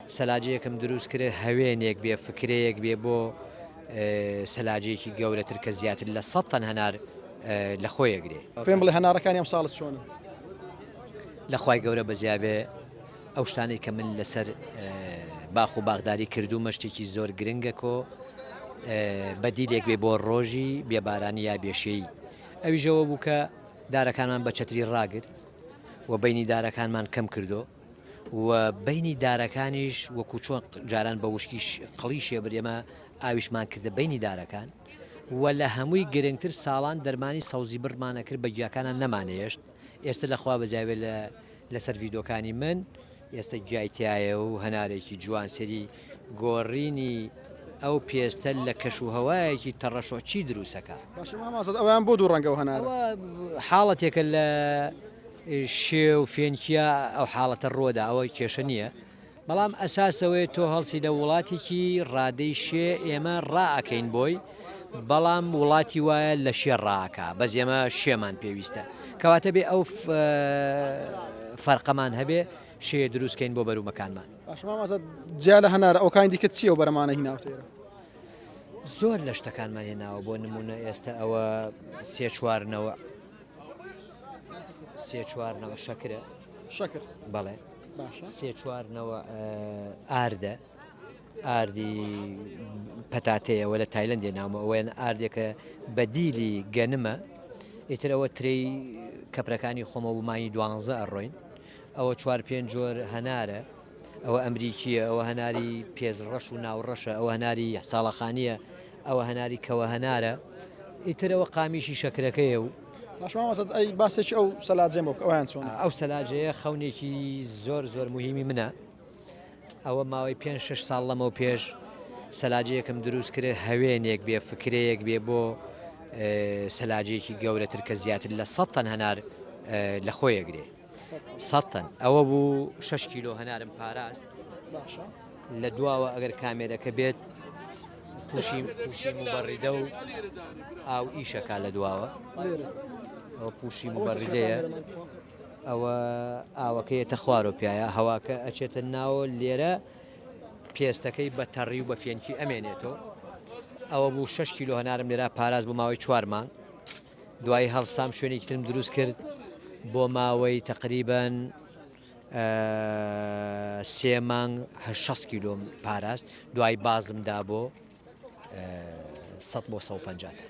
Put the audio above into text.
سەلاجەیەکم دروست کرد هەوێنێک بێ فکرەیەک بێ بۆ سەلاجەیەکی گەورەتر کە زیاتر لە سەد تەن هەنار لە خۆیە گرێ پێم بڵێ هەنارەکانی ئەم ساڵت چۆن لەخوای گەورە بەزیابێ ئەو شتانەی کە من لەسەر باخ و باغداری کردوومە شتێکی زۆر گرنگە کۆ بەدیلێک بێ بۆ ڕۆژی بێبارانی یا بێشەی ئەویژەوە بوو کە دارەکانمان بە چەتری ڕاگرت و بینی دارەکانمان کەم کردو و بەینی دارەکانیش وەکو چۆن جاران بە وشکیش قڵی شێبر ئێمە ئاویشمان کردە بەینی دارەکان و لە هەمووی گرنگتر ساڵان دەرمانی سەوزی بڕمانە کرد بە گیاکانە نەمانێشت ئێستا لەخوا بەزیاوێت لە لەسەر ڤیدۆکانی من ئێستا گیایتیایە و هەنارێکی جوان سەری گۆڕینی ئەو پێستە لە کەش و هەوایەکی تەڕەشۆ چی دروست ئەکا؟ باشە مام ئازاد ئەوەیان بۆ دوو ڕەنگە و هەنارە؟ ئەوە حاڵەتێکە لە شێ و فێنکیا ئەو حاڵەتە ڕووەدا ئەوە کێشە نییە بەڵام ئەساس ئەوەیە تۆ هەڵسی لە وڵاتێکی ڕادەی شێ ئێمە ڕائەکەین بۆی بەڵام وڵاتی وایە لە شێ ڕاکە بەس ئێمە شێمان پێویستە کەواتە بێ ئەو فەرقەمان هەبێ شێ دروستکەین بۆ بەرومەکانمان. باشە مام ئازاد جیا لە هەنار ئەوکانی دیکە چییە و بەرەمانە هیناوتە ئێرە؟ زۆر لە شتەکانمان هێناوە بۆ نمونە ئێستا ئەوە سێ چوارنەوە سێ چوارنەوە شەکرە شەکر بەڵێ باشە سێ چوارنەوە ئاردە ئاردی پەتاتەیەوە لە تایلندێ نامە ئەوەن ئاردێکە بەدیلی گەنمە ئیترەوە ترێی کەپرەکانی خۆمە ومانی دوانزە ئەڕۆین ئەوە چوار پێنج جۆر هەنارە، ئەوە ئەمریکییە، ئەوە هەناری پێست ڕەش و ناوڕەشە، ئەوە هەناری ساڵەخانییە، ئەوە هەناری کەوە هەنارە، ئیتر ئەوە قامیشی شەکرەکەیە و. باش مامۆستا ئەی باسێکی ئەو سەلاجەم بۆ بکە ئەویان چۆنە؟ ئەو سەلاجەیە خەونێکی زۆر زۆر موهیمی منە، ئەوە ماوەی پێنج شەش ساڵ لەمەو پێش سەلاجەیەکم دروست کرد هەوێنێک بێ فکرەیەک بێ بۆ سەلاجەیەکی گەورەتر کە زیاتر لە سەد تەن هەنار لە خۆی ئەگرێ. سەد تەن ئەوە بوو شش کیلۆ هەنارم پاراست باشە لە دواوە ئەگەر کامێرەکە بێت پوشی پوشی مبەڕیدە و ئاو ئیشەکە لە دواوە لێرە ئەو پوشی مبەڕیدەیە ئەوە ئاوەکەیەتە خوارۆ پیاە هەواکە ئەچێتە ناوە لێرە پێستەکەی بە تەڕی و بە فێنکی ئەمێنێتەوە ئەوە بوو 6 کیلو هەنارم لێرا پاراز بۆ ماوەی چوار مانگ دوای هەڵسام شوێنێکی ترم دروست کرد بۆ ماوەی تقریبن سێ مانگ هە شەست کیلۆم پاراست دوای بازم دا بۆ سە بۆ 150.